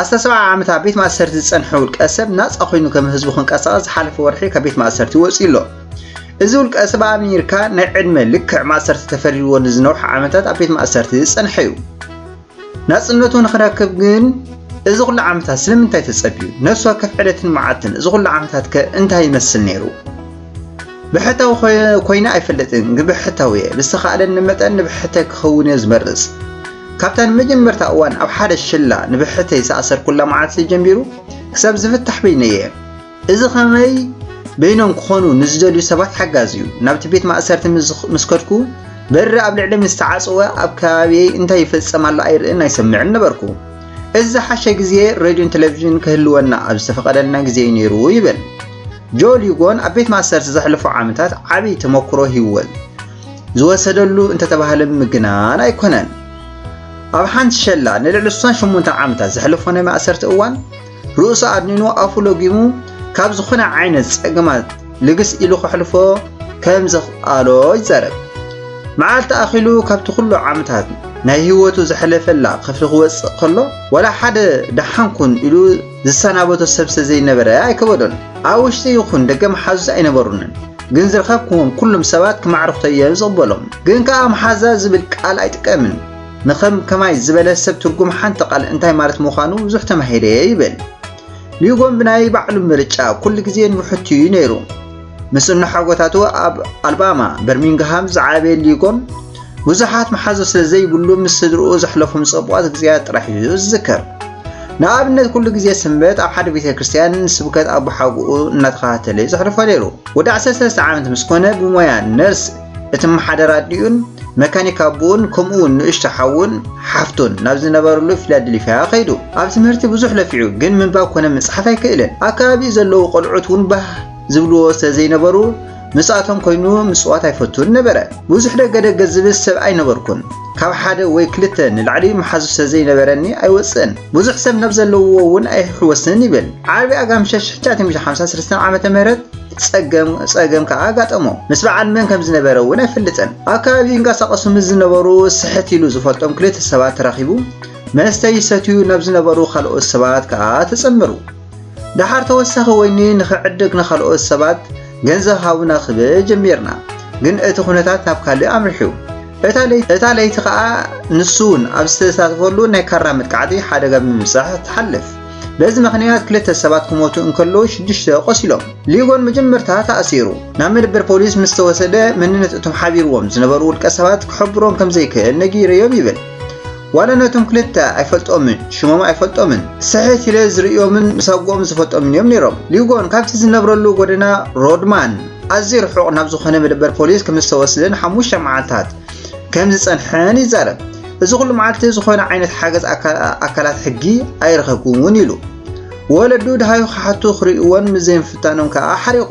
ኣስታት ሰብዓ ዓመት ኣብ ቤት ማእሰርቲ ዝጸንሐ ውልቀ ሰብ ናጻ ኮይኑ ከም ህዝቡ ክንቀሳቐስ ዝሓለፈ ወርሒ ካብ ቤት ማእሰርቲ ወጺኡ ኣሎ። እዚ ውልቀ ሰብ ኣብ ኣሜሪካ ናይ ዕድመ ልክዕ ማእሰርቲ ተፈሪድዎ ንዝነውሐ ዓመታት ኣብ ቤት ማእሰርቲ ዝጸንሐ እዩ። ናጽነቱ ንኽረክብ ግን እዚ ኩሉ ዓመታት ስለምንታይ ተጸብዩ? ነፍሲ ወከፍ ዕለትን መዓልትን እዚ ኩሉ ዓመታት ከ እንታይ ይመስል ነይሩ? ብሕታዊ ኮይነ ኣይፈልጥን፣ ግን ብሕታዊ እየ። ብዝተኻእለኒ መጠን ንብሕተይ ክኸውን እየ ዝመርጽ። ካብታ ንመጀመርታ እዋን ኣብ ሓደ ሽላ ንብሕተይ ዝኣሰርኩላ መዓልቲ ጀሚሩ ክሳብ ዝፍታሕ በይነይ እየ። እዚ ከመይ በይኖም ክኾኑ ንዝደልዩ ሰባት ሓጋዚ እዩ። ናብቲ ቤት ማእሰርቲ ምስ ከድኩ በሪ ኣብ ልዕሊ ምስ ተዓጽወ ኣብ ከባቢየይ እንታይ ይፍጸም ኣሎ ኣይርእን ኣይሰምዕን ነበርኩ። እዚ ዝሓሸ ግዜ ሬድዮን ቴሌቪዥንን ክህልወና ኣብ ዝተፈቐደልና ግዜ እዩ ነይሩ ይብል። ጆል ሂጎን ኣብ ቤት ማእሰርቲ ዘሕለፎ ዓመታት ዓብዪ ተመክሮ ሂወል ዝወሰደሉ እንተተባህለ ምግናን ኣይኮነን። ኣብ ሓንቲ ሸላ ንልዕሊ 68 ዓመታት ዘሕለፎ ናይ ማእሰርቲ እዋን ርእሱ ኣድኒኑ ኣፉ ለጊሙ ካብ ዝኾነ ዓይነት ጸገማት ልግስ ኢሉ ከሕልፎ ከም ዘኽኣሎ ይዛረብ። መዓልቲ ኣኺሉ ካብቲ ኩሉ ዓመታት ናይ ህይወቱ ዘሕለፈላ ክፍሊ ክወጽእ ከሎ ዋላ ሓደ ደሓንኩን ኢሉ ዝሰናበቶ ሰብ ስለ ዘይነበረ ኣይከበዶን። ኣብ ውሽጢ ይኹን ደገ መሓዙት ኣይነበሩንን። ግን ዝረኸብክዎም ኩሎም ሰባት ክማዕርኹቶ እየ ዝቕበሎም። ግን ከኣ መሓዛ ዝብል ቃል ኣይጥቀምን። ንከም ከማይ ዝበለ ሰብ ትርጉም ሓንቲ ቃል እንታይ ማለት ምዃኑ ብዙሕ ተማሂረ እየ ይብል። ሊጎን ብናይ ባዕሉ ምርጫ ኩሉ ግዜ ንብሕቱ እዩ ነይሩ። ምስ እንሓጎታቱ ኣብ ኣልባማ በርሚንግሃም ዝዓበየ ሊጎን ብዙሓት መሓዙ ስለ ዘይብሉ ምስ ስድርኡ ዘሕለፎም ጸቡቓት ግዜያት ጥራሕ እዩ ዝዝከር። ንኣብነት ኩሉ ግዜ ስንበት ኣብ ሓደ ቤተ ክርስቲያን ስብከት ኣቦ ሓጉኡ እናተኸታተለ እዩ ዘሕልፎ ነይሩ። ወዲ 13 ዓመት ምስ ኮነ ብሞያ ነርስ እትመሓደር ኣዲኡን መካኒክ ኣቦኡን ከምኡ እውን ንእሽቶ ሓውን ሓፍቱን ናብ ዝነበረሉ ፊላደልፊያ ከይዱ። ኣብ ትምህርቲ ብዙሕ ለፊዑ ግን ምንባብ ኮነ ምጽሓፍ ኣይክእልን። ኣብ ከባቢኡ ዘለዉ ቆልዑት እውን ባህ ዝብልዎ ስለ ዘይነበሩ ምስኣቶም ኮይኑ ምጽዋት ኣይፈቱን ነበረ። ብዙሕ ደገ ደገ ዝብል ሰብ ኣይነበርኩን። ካብ ሓደ ወይ ክልተ ንላዕሊ መሓዙት ስለ ዘይነበረኒ ኣይወጽእን። ብዙሕ ሰብ ናብ ዘለውዎ እውን ኣይሕወስን ይብል። ዓርቢ ኣጋምሸት 1953 ዓመተ ምህረት ጸገም ጸገም ከኣ ኣጋጠሞ። ምስ በዓል መን ከም ዝነበረ እውን ኣይፈልጥን። ኣብ ከባቢ ይንቀሳቐሱ ምስ ዝነበሩ ስሕት ኢሉ ዝፈልጦም ክልተ ሰባት ተራኺቡ መስተ ይሰትዩ ናብ ዝነበሩ ካልኦት ሰባት ከኣ ተጸመሩ። ደሓር ተወሳኺ ወይኒ ንኽዕድግ ንኻልኦት ሰባት ገንዘብ ሃቡና ክብል ጀሚርና፣ ግን እቲ ኩነታት ናብ ካልእ ኣምሪሑ። እታ ለይቲ ከኣ ንሱ'ውን ኣብ ዝተሳተፈሉ ናይ ካራ መጥቃዕቲ ሓደጋ ብምብጻሕ ትሓልፍ። በዚ ምኽንያት ክልተ ሰባት ክሞቱ እንከለዉ ሽዱሽተ ቆሲሎም። ሊጎን መጀመርታ ተኣሲሩ ናብ መደበር ፖሊስ ምስ ተወሰደ መንነት እቶም ሓቢርዎም ዝነበሩ ውልቀሰባት ክሕብሮም ከምዘይክእል ነጊረዮም ይብል። ዋላ ነቶም ክልተ ኣይፈልጦምን፣ ሽሞም ኣይፈልጦምን፣ ስሕት ኢለ ዝርእዮምን ምስ ኣጎኦም ዝፈልጦምን እዮም ነይሮም። ሊጎን ካብቲ ዝነብረሉ ጎደና ሮድማን ኣዝዩ ርሑቕ ናብ ዝኾነ መደበር ፖሊስ ከም ዝተወስደን ሓሙሽተ መዓልታት ከም ዝጸንሐን ይዛረብ። እዚ ኩሉ መዓልቲ ዝኾነ ዓይነት ሓገዝ ኣካላት ሕጊ ኣይረኸብኩን እውን ኢሉ። ወለዱ ደሃዩ ክሓቱ ክርእይዎን ምስ ዘይምፍታኖም ከኣ ሓሪቑ።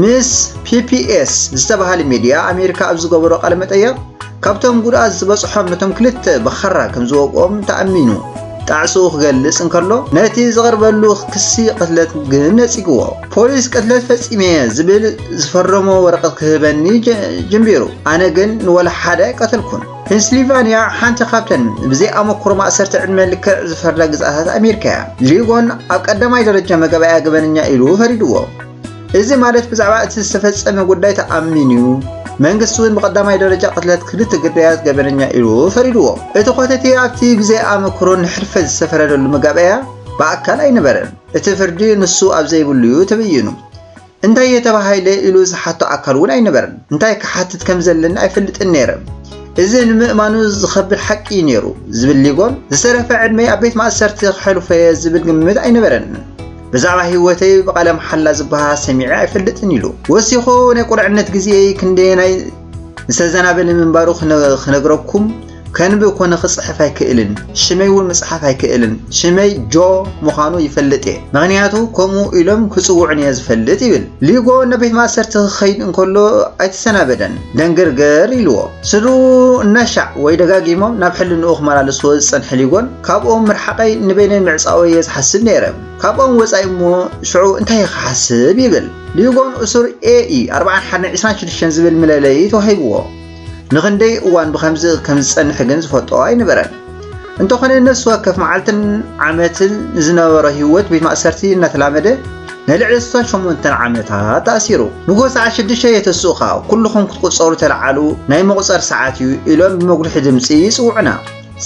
ምስ ፒፒኤስ ዝተባሃለ ሚድያ ኣሜሪካ ኣብ ዝገበሮ ቃለ መጠየቕ ካብቶም ጉድኣት ዝበፅሖም ነቶም ክልተ ብኻራ ከም ዝወቅኦም ተኣሚኑ ጣዕስኡ ክገልጽ እንከሎ ነቲ ዝቐርበሉ ክሲ ቅትለት ግን ነጺግዎ ፖሊስ ቅትለት ፈጺመ ዝብል ዝፈረሞ ወረቐት ክህበኒ ጀምቢሩ ኣነ ግን ንወላ ሓደ ኣይቀተልኩን ፔንስሊቫንያ ሓንቲ ካብተን ብዘይ ኣመክሮ ማእሰርቲ ዕድመ ልክዕ ዝፈርዳ ግዝኣታት ኣሜሪካ እያ። ሊጎን ኣብ ቀዳማይ ደረጃ መጋባእያ ገበነኛ ኢሉ ፈሪድዎ። እዚ ማለት ብዛዕባ እቲ ዝተፈጸመ ጉዳይ ተኣሚኑ እዩ። መንግስቲ እውን ብቐዳማይ ደረጃ ቅትለት ክልተ ግዳያት ገበነኛ ኢሉ ፈሪድዎ። እቲ ኮተቴ ኣብቲ ብዘይ ኣመክሮ ንሕልፈት ዝተፈረደሉ መጋባእያ ብኣካል ኣይነበረን። እቲ ፍርዲ ንሱ ኣብ ዘይብሉ እዩ ተበይኑ። እንታይ እየ ተባሂለ ኢሉ ዝሓቶ ኣካል እውን ኣይነበረን። እንታይ ክሓትት ከም ዘለኒ ኣይፈልጥን ነይረ። እዚ ንምእማኑ ዝኸብድ ሓቂ እዩ ነይሩ፣ ዝብል ሊጎን፣ ዝተረፈ ዕድመይ ኣብ ቤት ማእሰርቲ ከሕልፎ እየ ዝብል ግምት ኣይነበረንን። ብዛዕባ ህይወተይ ብቓለ መሓላ ዝበሃል ሰሚዐ ኣይፈልጥን ኢሉ። ወሲኹ ናይ ቁልዕነት ግዜየይ ክንደየናይ ዝተዘናበለ ምንባሩ ክነግረኩም ከንብብ ኮነ ክጽሕፍ ኣይክእልን ሽመይ እውን ምጽሓፍ ኣይክእልን ሽመይ ጆ ምዃኑ ይፈልጥ እየ ምክንያቱ ከምኡ ኢሎም ክጽውዑን እየ ዝፈልጥ ይብል ሊጎ ነቤት ማእሰርቲ ክኸይድ እንከሎ ኣይተሰናበደን ደንገርገር ኢልዎ ስድርኡ እናሻዕ ወይ ደጋጊሞም ናብ ሕልንኡ ክመላለስዎ ዝጸንሐ ሊጎን ካብኦም ምርሓቐይ ንበይነይ ምዕጻወይ እየ ዝሓስብ ነይረ ካብኦም ወጻኢ እሞ ሽዑ እንታይ ክሓስብ ይብል ሊጎን እሱር ኤኢ 41 26 ዝብል ምለለይ ተዋሂብዎ ንኽንደይ እዋን ብኸምዚ ከም ዝጸንሕ ግን ዝፈልጦ ኣይነበረን። እንተኾነ ነፍሲ ወከፍ መዓልትን ዓመትን ዝነበሮ ህይወት ቤት ማእሰርቲ እናተላመደ ንልዕሊ 68 ዓመታት ተኣሲሩ ንጎ ሰዓት 6 የተስእኻ ኩልኹም ክትቁጸሩ ተለዓሉ ናይ መቑጸር ሰዓት እዩ ኢሎም ብመጉልሒ ድምፂ ይፅውዑና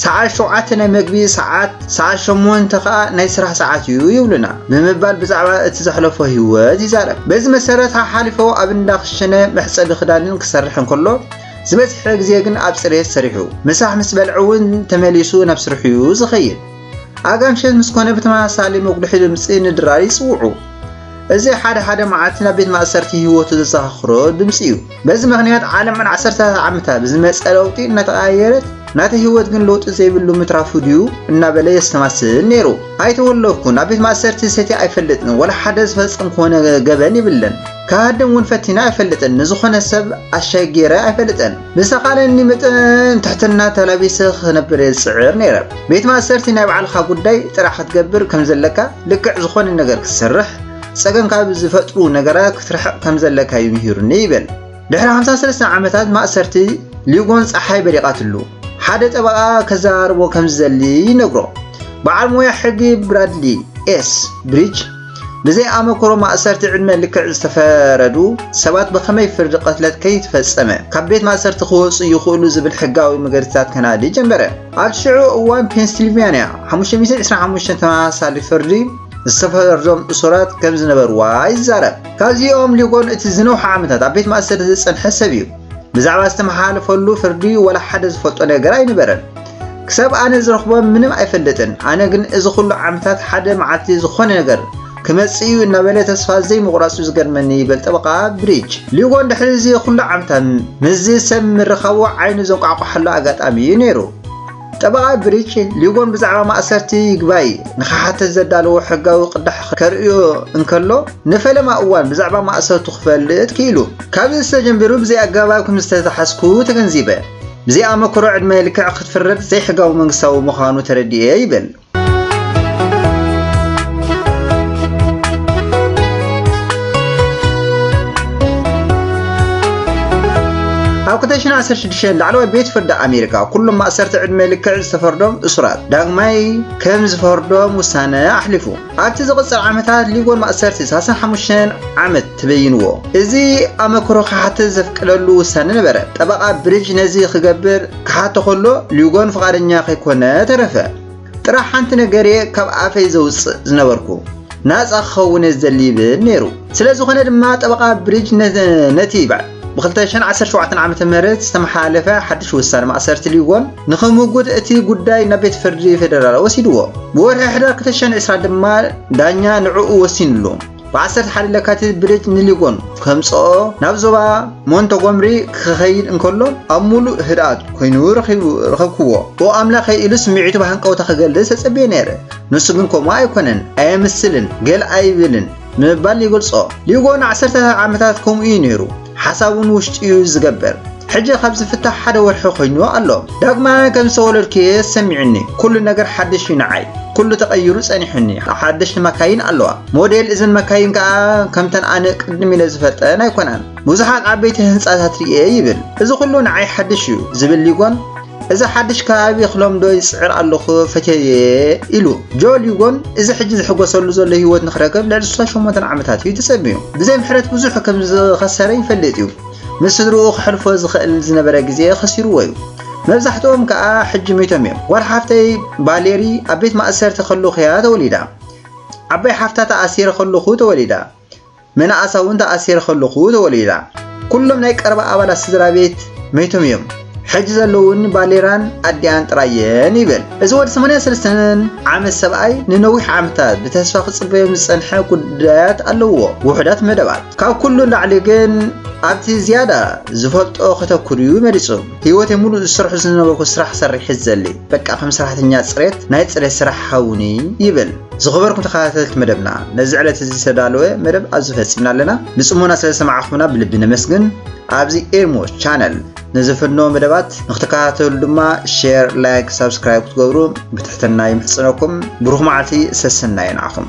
ሰዓት ሸውዓተ ናይ መግቢ ሰዓት፣ ሰዓት ሸሞንተ ከኣ ናይ ስራሕ ሰዓት እዩ ይብሉና ብምባል ብዛዕባ እቲ ዘሕለፎ ህይወት ይዛረብ። በዚ መሰረት ሓሓሊፎ ኣብ እንዳ ክሽነ መሕጸቢ ክዳንን ክሰርሕ እንከሎ ዝበዝሐ ግዜ ግን ኣብ ጽሬት ሰሪሑ ምሳሕ ምስ በልዐ እውን ተመሊሱ ናብ ስርሑ እዩ ዝኸይድ። ኣጋ ምሸት ምስ ኮነ ብተመሳሳሊ መጉልሒ ድምጺ ንድራር ይጽውዑ። እዚ ሓደ ሓደ መዓልቲ ናብ ቤት ማእሰርቲ ህይወቱ ዘዘኻኽሮ ድምጺ እዩ። በዚ ምኽንያት ዓለም ን ዓሰርተታት ዓመታት ብዝመጸ ለውጢ እናተቐያየረት ናተይ ህይወት ግን ለውጢ ዘይብሉ ምትራፉ ድዩ እናበለ የስተማስል ነይሩ። ኣይተወለኩን፣ ኣብ ቤት ማእሰርቲ ሰትየ ኣይፈልጥን፣ ወላ ሓደ ዝፈጸምክዎ ገበን የብለን፣ ክሃድም እውን ፈቲነ ኣይፈልጥን፣ ንዝኾነ ሰብ ኣሻይ ገይረ ኣይፈልጥን፣ ብዝተኻእለኒ መጠን ትሕትና ተላቢሰ ክነብር እየ ዝጽዕር ነይረ። ቤት ማእሰርቲ ናይ ባዕልኻ ጉዳይ ጥራሕ ክትገብር ከምዘለካ፣ ልክዕ ዝኾነ ነገር ክትሰርሕ፣ ጸገም ካብ ዝፈጥሩ ነገራት ክትርሕቕ ከም ዘለካ እዩ ምሂሩኒ ይብል። ድሕሪ 53 ዓመታት ማእሰርቲ ሊጎን ጸሓይ በሪቓትሉ ሓደ ጠበቓ ከዘራርቦ ከም ዝደሊ ይነግሮ። በዓል ሞያ ሕጊ ብራድሊ ኤስ ብሪጅ ብዘይ ኣመክሮ ማእሰርቲ ዕድመ ልክዕ ዝተፈረዱ ሰባት ብኸመይ ፍርዲ ቅትለት ከይተፈጸመ ካብ ቤት ማእሰርቲ ክወጹ ይኽእሉ ዝብል ሕጋዊ መገድታት ከናዲ ጀመረ። ኣብ ሽዑ እዋን ፔንስልቫንያ 525 ተመሳሳሊ ፍርዲ ዝተፈረዶም እሱራት ከም ዝነበርዋ ይዛረብ። ካብዚኦም ሊጎን እቲ ዝነውሐ ዓመታት ኣብ ቤት ማእሰርቲ ዝጸንሐ ሰብ እዩ። ብዛዕባ ዝተመሓላለፈሉ ፍርዲ ወላ ሓደ ዝፈልጦ ነገር ኣይነበረን። ክሳብ ኣነ ዝረኽቦ ምንም ኣይፈልጥን፣ ኣነ ግን እዚ ኩሉ ዓመታት ሓደ መዓልቲ ዝኾነ ነገር ክመጽእ እዩ እናበለ ተስፋ ዘይምቑራጹ ዝገርመኒ ይበል ጠበቓ ብሪጅ። ሊጎን ድሕሪ እዚ ኩሉ ዓመታት ምስዚ ሰብ ምርኻቡ ዓይኑ ዘንቋዕቋሓሉ ኣጋጣሚ እዩ ነይሩ። ጠበቓ ግሪች ሊጎን ብዛዕባ ማእሰርቲ ይግባይ ንኽሓትት ዘዳለዎ ሕጋዊ ቅዳሕ ከርእዮ እንከሎ ንፈለማ እዋን ብዛዕባ ማእሰርቱ ክፈልጥ ክኢሉ። ካብዚ ዝተጀምቢሩ ብዘይኣገባብ ከም ዝተታሕዝኩ ተገንዚበ። ብዘይኣመክሮ ዕድመ ልክዕ ክትፍረድ ዘይሕጋዊ መንግስታዊ ምዃኑ ተረዲኤ ይብል። ኣብ 2016 ላዕለዋይ ቤት ፍርዲ ኣሜሪካ ኩሎም ማእሰርቲ ዕድመ ልክዕ ዝተፈርዶም እሱራት ዳግማይ ከም ዝፈርዶም ውሳነ ኣሕሊፉ ኣብቲ ዝቕፅል ዓመታት ሊጎን ማእሰርቲ 35 ዓመት ተበይንዎ እዚ ኣመክሮ ክሓትት ዘፍቅደሉ ውሳነ ነበረ ጠበቓ ብሪጅ ነዚ ክገብር ክሓቶ ከሎ ሊጎን ፍቓደኛ ከይኮነ ተረፈ። ጥራሕ ሓንቲ ነገር እየ ካብ ኣፈይ ዘውጽእ ዝነበርኩ፣ ናጻ ክኸውን እየ ዝደሊ ይብል ነይሩ። ስለ ዝኾነ ድማ ጠበቓ ብሪጅ ነቲ ብ2017 ዓ.ም ዝተመሓላለፈ ሓድሽ ውሳነ ማእሰርቲ ሊጎን ንኽምጉት እቲ ጉዳይ ናብ ቤት ፍርዲ ፌደራል ወሲድዎ። ብወርሒ ሕዳር 2020 ድማ ዳኛ ንዕኡ ወሲንሉ። ብዓሰርተ ሓደ ለካቲት ብሬት ንሊጎን ከምጽኦ ናብ ዞባ ሞንተጎምሪ ክኸይድ እንከሎ ኣብ ሙሉእ ህድኣት ኮይኑ ረኸብክዎ። ኦ ኣምላኸይ ኢሉ ስምዒቱ ብሃንቀውታ ክገልጽ ተጸብየ ነይረ። ንሱ ግን ከምኡ ኣይኮነን፣ ኣየምስልን፣ ገል ኣይብልን ምባል ይገልጾ። ሊጎን ዓሰርተታት ዓመታት ከምኡ እዩ ነይሩ። ሓሳቡ ንውሽጡ ዩ ዝገብር ሕጂ ካብ ዝፍታሕ ሓደ ወርሒ ኮይንዎ ኣሎ ዳግማይ ከም ዝተወለድኩየ ሰሚዑኒ ኩሉ ነገር ሓድሽ ዩ ንዓይ ኩሉ ተቀይሩ ጸኒሑኒ ሓደሽቲ መካይን ኣለዋ ሞዴል እዘን መካይን ከኣ ከምተን ኣነ ቅድም ኢለ ዝፈልጠን ኣይኮናን ብዙሓት ዓበይቲ ህንጻታት ርኤ ይብል እዚ ኩሉ ንዓይ ሓድሽ ዩ ዝብል ሊጎን እዚ ሓድሽ ከባቢ ክለምዶ ይጽዕር ኣለኹ ፈትየየ ኢሉ። ጆ ሊጎን እዚ ሕጂ ዝሕጎሰሉ ዘሎ ህይወት ንክረክብ ልዕሊ 68 ዓመታት እዩ ተጸሚዩ። ብዘይ ምሕረት ብዙሕ ከም ዝኸሰረ ይፈልጥ እዩ። ምስ ስድርኡ ክሕልፎ ዝኽእል ዝነበረ ግዜ ኸሲርዎ እዩ። መብዛሕትኦም ከኣ ሕጂ ሚቶም እዮም። ጓል ሓፍተይ ቫሌሪ ኣብ ቤት ማእሰርቲ ከለኹ እያ ተወሊዳ። ዓባይ ሓፍታ ተኣሲረ ከለኹ ተወሊዳ። መናእሳ እውን ተኣሲረ ከለኹ ተወሊዳ። ኩሎም ናይ ቀረባ ኣባላት ስድራ ቤት መይቶም እዮም። ሕጂ ዘለውን ባሌራን ኣዲኣን ጥራየን ይብል እዚ ወዲ 83 ዓመት ሰብኣይ ንነዊሕ ዓመታት ብተስፋ ክጽበዮም ዝጸንሐ ጉዳያት ኣለዎ ውሑዳት መደባት ካብ ኩሉ ላዕሊ ግን ኣብቲ ዝያዳ ዝፈልጦ ከተኩር እዩ መሪጹ ህይወት ሙሉእ ዝስርሑ ዝነበርኩ ስራሕ ሰሪሒ ዘሊ በቃ ከም ሰራሕተኛ ጽሬት ናይ ጽሬት ስራሕ ሃውኒ ይብል ዝኸበርኩም ተኸታተልቲ መደብና ነዚ ዕለት እዚ ዝተዳለወ መደብ ኣብዚ ፈጺምና ኣለና ብጽሞና ስለ ዝሰማዕኹምና ብልቢ ነመስግን ኣብዚ ኤርሞ ቻነል ንዘፈኖ መደባት ንክትከታተሉ ድማ ሼር ላይክ ሳብስክራይብ ክትገብሩ ብትሕትና ይምሕጽነኩም ብሩኽ መዓልቲ ሰሰናዩ ንዓኹም